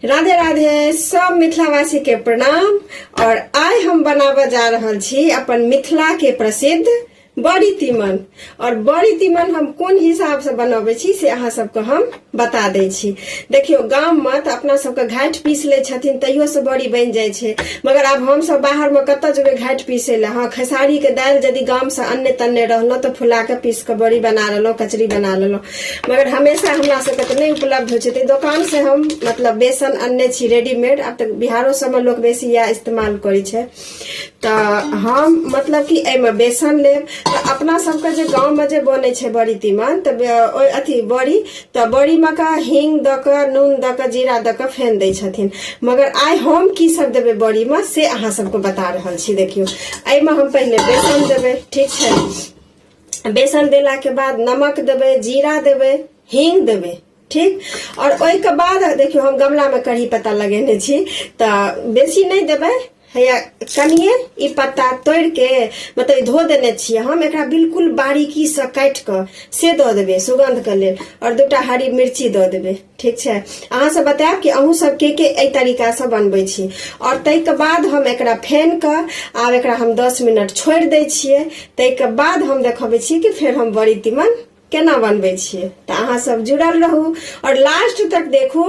राधे राधे सब मिथिलावासी के प्रणाम और आय हम बनाबऽ जा रहल छी अपन मिथिला के प्रसिद्ध बड़ी तीमन और बड़ी तीमन हम कोन हिसाब से बनबै छी से अहाँ सबके हम बता दै छी देखियौ गाम में तऽ अपना सबके घाट पीस लै छथिन तैयो से बड़ी बनि जाइ छै मगर आब हम सब बाहर में कतऽ जेबै घाट पीसै लए हँ खेसारी के दालि यदि गाम से अन्ने तन्ने रहलहुँ तऽ फुला के पीस के बड़ी बना लेलहुँ कचरी बना लेलहुँ मगर हमेशा हमरा सबके तऽ नहि उपलब्ध होइ छै तऽ दोकान से हम मतलब बेसन अनने छी रेडीमेड आब तऽ बिहारो सबमे लोक बेसी इएह इस्तेमाल करै छै तऽ हम मतलब कि एहिमे बेसन लेब तऽ अपना सबके जे गाँवमे जे बनै छै बड़ी तीमन तऽ ओहि अथी बड़ी तऽ बड़ीमे का हींग दऽ कऽ नून दऽ कऽ जीरा दऽ कऽ फेन दै छथिन मगर आइ हम की सब देबै बड़ीमे से अहाँ सबके बता रहल छी देखियौ एहिमे हम पहिले बेसन देबै ठीक छै बेसन देलाके बाद नमक देबै जीरा देबै हींग देबै ठीक आओर ओहिके बाद देखियौ हम गमलामे कढ़ी पत्ता लगेने छी तऽ बेसी नहि देबै हैया कनिए ई पत्ता तोड़ि के मतलब धो देने छियै हम एकरा बिल्कुल बारीकीसँ काटि कऽ से दऽ देबै सुगन्धके लेल आओर दूटा हरी मिर्ची दऽ देबै ठीक छै अहाँ सब बतायब कि अहूँ सब के के एहि तरीका से बनबै छी और ताहि के बाद हम एकरा फेन के आब एकरा हम 10 मिनट छोड़ि दै छियै ताहि के बाद हम देखबै छी कि फेर हम बड़ी तीमन केना बनबै छियै तऽ अहाँ सब जुड़ल रहू और लास्ट तक देखू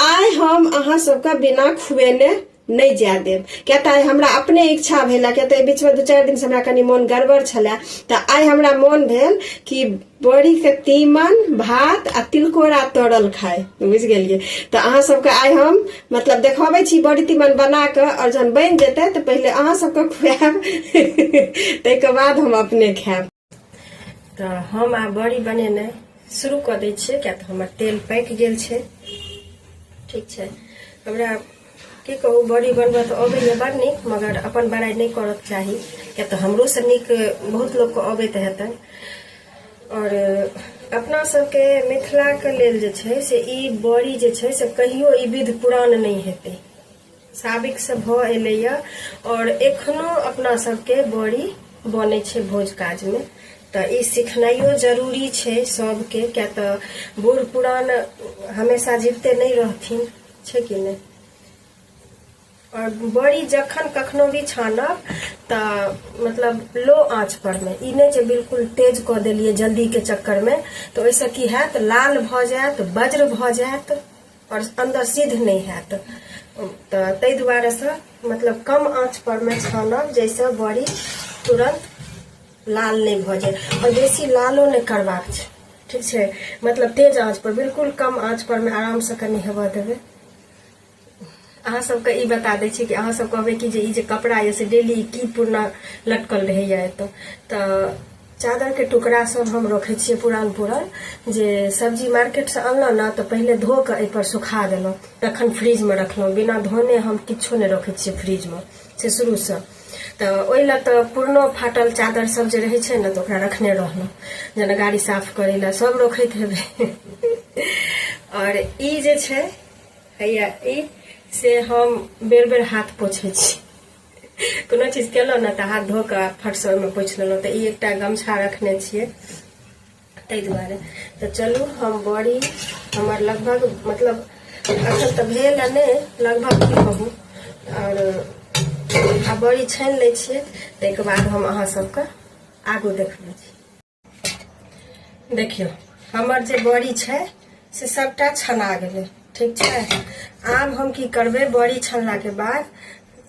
आइ हम अहाँ सबके बिना खुएने नहि जाय देब किया तऽ आइ हमरा अपने इच्छा भेल किया तऽ एहि बीचमे दू चारि दिनसँ हमरा कनि मोन गड़बड़ छलए तऽ आइ हमरा मोन भेल कि बड़ीके तीमन भात आ तिलकोरा तरल खाय बुझि गेलियै तऽ अहाँ सबके आइ हम मतलब देखबै छी बड़ी तीमन बना कऽ आओर जहन बनि जेतै तऽ पहिले अहाँ सबके खुआएब ताहिके बाद हम अपने खायब तऽ हम आब बड़ी बनेनाइ शुरू कऽ दै छियै किया तऽ हमर तेल पाकि गेल छै ठीक छै हमरा की कहू बड़ी बनबऽ तऽ अबैए बड़ नीक मगर अपन बड़ाइ नहि करऽके चाही किया तऽ हमरोसँ नीक बहुत लोकके अबैत हेतनि आओर अपना सबके मिथिलाके लेल जे छै से ई बड़ी जे छै से कहियो ई विध पुरान नहि हेतै साबिक से भ एलैय और एखनो अपना सबके बड़ी बने छै भोज काज में तऽ ई सिखनाइयो जरूरी छै सबके क्या तऽ बूढ़ पुरान हमेशा जीवते नहि रहथिन छै कि नहि और बड़ी जखन कखनो भी छानब तऽ मतलब लो आँच पर में ई नहि जे बिल्कुल तेज कऽ देलियै जल्दी के चक्कर में तऽ ओहिसँ की हैत लाल भऽ जायत वज्र भऽ जायत आओर अन्दर सिद्ध नहि हैत तऽ ताहि दुआरेसँ मतलब कम आँच परमे छानब जाहिसँ बड़ी तुरन्त लाल नहि भऽ जाय आओर बेसी लालो नहि करबाक छै ठीक छै मतलब तेज आँच पर बिल्कुल कम आँच परमे आरामसँ कनि हेबऽ देबै अहाँ सबके ई बता दै छी कि अहाँ सब कहबै कि जे ई जे कपड़ा यऽ से डेली की पुरना लटकल रहैए एतऽ तऽ चादरके टुकड़ा सब हम रखै छियै पुरान पुरान जे सब्जी मार्केटसँ अनलहुँ ने तऽ पहिले धो कऽ एहिपर सुखा देलहुँ तखन फ्रिजमे रखलहुँ बिना धोने हम किछो नहि रखै छियै फ्रिजमे से शुरूसँ तऽ ओहि लए तऽ पुरनो फाटल चादर सब जे रहै छै ने तऽ ओकरा रखने रहलहुँ जेना गाड़ी साफ करै लए सब रखैत हेबै आओर ई जे छै हैया ई से हम बेर बेर हाथ पोछै छी कोनो चीज केलहुँ ने तऽ हाथ धो कऽ फटसँ ओहिमे पोछि लेलहुँ तऽ ई एकटा गमछा रखने छियै ताहि दुआरे तऽ चलू हम बड़ी हमर लगभग मतलब अखन तऽ भेल आ नहि लगभग की कहू आओर आ बड़ी छानि लै छियै ताहिके बाद हम अहाँ सभके आगू देखबै छी देखियौ हमर जे बड़ी छै से सभटा छना गेलै ठीक छै आब हम की करबै बड़ी छनलाके बाद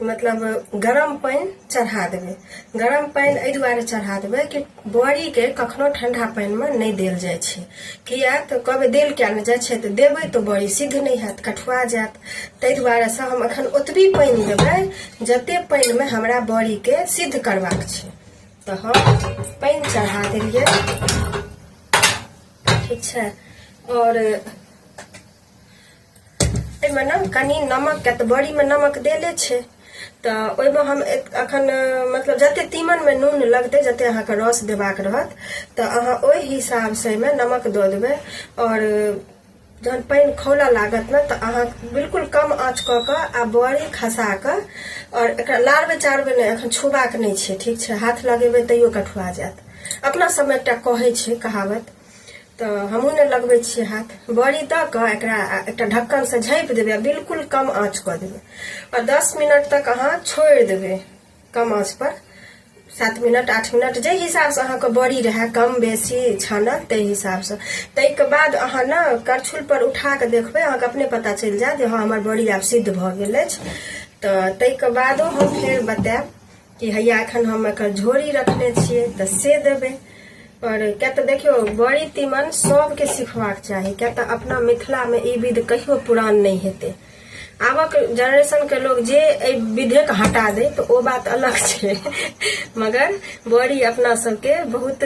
मतलब गरम पानि चढ़ा देबै गरम पानि एहि दुआरे चढ़ा देबै कि बड़ीके कखनो ठंडा पानिमे नहि देल जाइ छै किया तऽ कहबै देल किया नहि जाइ छै तऽ देबै तऽ बड़ी सिद्ध नहि हैत कठुआ जायत ताहि दुआरे से हम एखन ओतबी पानि देबै जते पानिमे हमरा बड़ीके सिद्ध करबाक छै तऽ हम पानि चढ़ा देलियै ठीक छै आओर एहिमे ने कनि नमक के तऽ बड़ीमे नमक देले छै तऽ ओहिमे हम अखन मतलब जते तीमनमे नून लगतै जते अहाँके रस देबाक रहत तऽ अहाँ ओहि हिसाबसँ एहिमे नमक दऽ देबै आओर जहन पानि खौला लागत ने तऽ अहाँ बिल्कुल कम आँच कऽ कऽ आ बड़ी खसा कऽ आओर एकरा लारबै चारबै नहि एखन छुबाक नहि छै ठीक छै हाथ लगेबै तैयो कठुआ जायत अपना सबमे एकटा कहै छै कहावत तऽ हमहूँ नहि लगबै छियै हाथ बड़ी दऽ कऽ एकरा एकटा ढक्कनसँ झाँपि देबै आ बिल्कुल कम आँच कऽ देबै आ दस मिनट तक अहाँ छोड़ि देबै कम आँच पर सात मिनट आठ मिनट जे हिसाबसँ अहाँके बड़ी रहए कम बेसी छानल ताहि हिसाबसँ ताहिके बाद अहाँ ने करछुल पर उठा कऽ देखबै अहाँके अपने पता चलि जायत जे हँ हमर बड़ी आब सिद्ध भऽ गेल अछि तऽ ताहिके बादो हम फेर बतायब कि हैया एखन हम एकर झोरी रखने छियै तऽ से देबै पर क्या तऽ देखियौ बड़ी तीमन सभके सिखबाक चाही क्या तऽ अपना मिथिलामे ई विध कहियो पुरान नहि हेतै आबक जनरेशन के लोग जे एहि विधे के हटा दे तो ओ बात अलग छे मगर बड़ी अपना सबके बहुत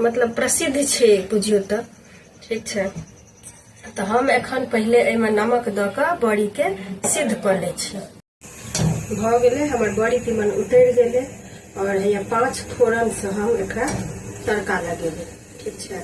मतलब प्रसिद्ध छे बुझियो तो ठीक छे तो हम एखन पहले एहिमे नमक द के बड़ी के सिद्ध कर ले छी भ गेले हमर बड़ी तीमन उतर गेले और ये पांच फोरन से हम एक तड़का लगेबे ठीक छे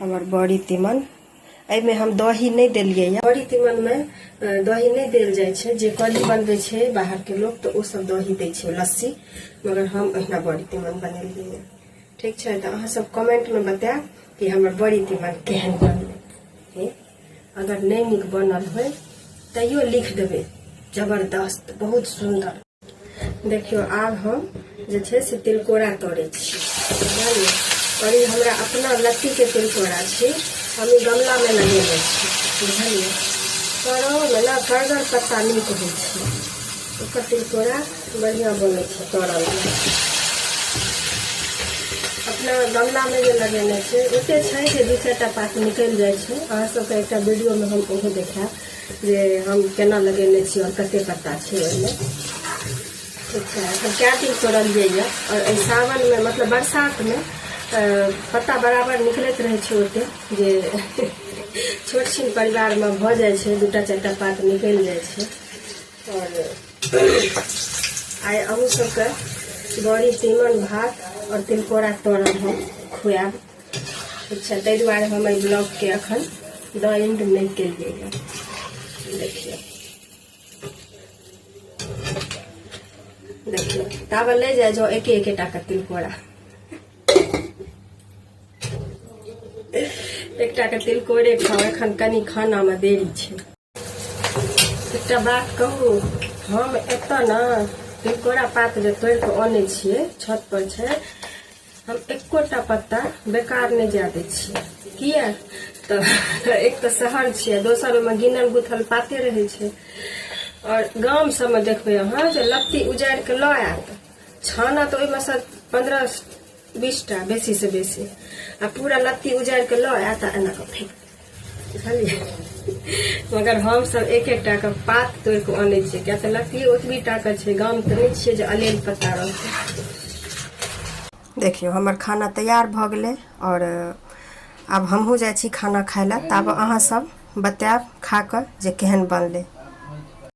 हमर बड़ी तीमन एहिमे हम दही नहि देलियै यऽ बड़ी तीमनमे अ, दही नहि देल जाइ छै जे कढ़ी बनबै छै बाहरके लोक तऽ ओ सब दही दै छै लस्सी मगर हम अहिना बड़ी तीमन बनेलियै यऽ ठीक छै तऽ अहाँ सब कमेंटमे बतायब कि हमर बड़ी तीमन केहन बनलै हे, अगर नहि नीक बनल होय तैयो लिख देबै जबरदस्त बहुत सुन्दर देखियो आब हम जे छै से तिलकोरा तोड़े छी बुझलियै और ई हमरा अपना लत्ती के तिलकोरा छी हम ई गमला में लगेने छी बुझलियै करो में ना करगर पत्ता नीक होइ छै ओकर तिलकोरा बढ़िया बनै छै तोड़ल अपना गमला में जे लगेने छै ओते छै जे दू चारिटा पात निकलि जाइ छै अहाँ सबके एकटा वीडियो में हम ओहो देखायब जे हम केना लगेने छी आओर कते पत्ता छै ओहिमे ठीक छै हम कए दिन तोड़लियै यए आओर एहि सावनमे मतलब बरसातमे अ, पत्ता बराबर निकलैत रहै छै ओते जे छोट छिन परिवारमे भऽ जाइ छै दूटा चारिटा पात निकलि जाइ छै आओर आइ अहूँ सबके बड़ी तीमन भात आओर तिलकोरा तोड़ल हम खुआएब ठीक छै ताहि दुआरे हम एहि ब्लॉगके एखन द एंड नहि केलियै हँ देखियौ देखियौ ताबे ले जाइ जाउ एके एकेटा के तिलकोरा एकटा के तिलकोरे खाउ एखन कनि खानामे देरी छै एकटा बात कहू हम एतऽ ने तिलकोरा पात जे तोड़ कऽ अनै छियै छत पर छै हम एकोटा पत्ता बेकार नहि जाय दै छियै किया तऽ एक तऽ शहर छियै दोसर ओहिमे गिनल गुथल पाते रहै छै और गाम सबमे देखबै अहाँ जे लत्ती उजारि कऽ लऽ आयत छाना तऽ ओहिमे से पंद्रह बीसटा बेसी से बेसी आ पूरा लत्ती उजारि कऽ लऽ आयत आ एना कऽ फेंक मगर हमसभ एक एक टाके पात तोड़ि कऽ अनै छियै किया तऽ लकड़ी ओतबी टाके छै गाम तऽ नहि छियै जे अलेल पत्ता रहतै देखियौ हमर खाना तैयार भऽ गेलै आओर आब हमहूँ जाइ छी खाना खाय लए ताबे अहाँसभ बतायब खा कऽ जे केहन बनलै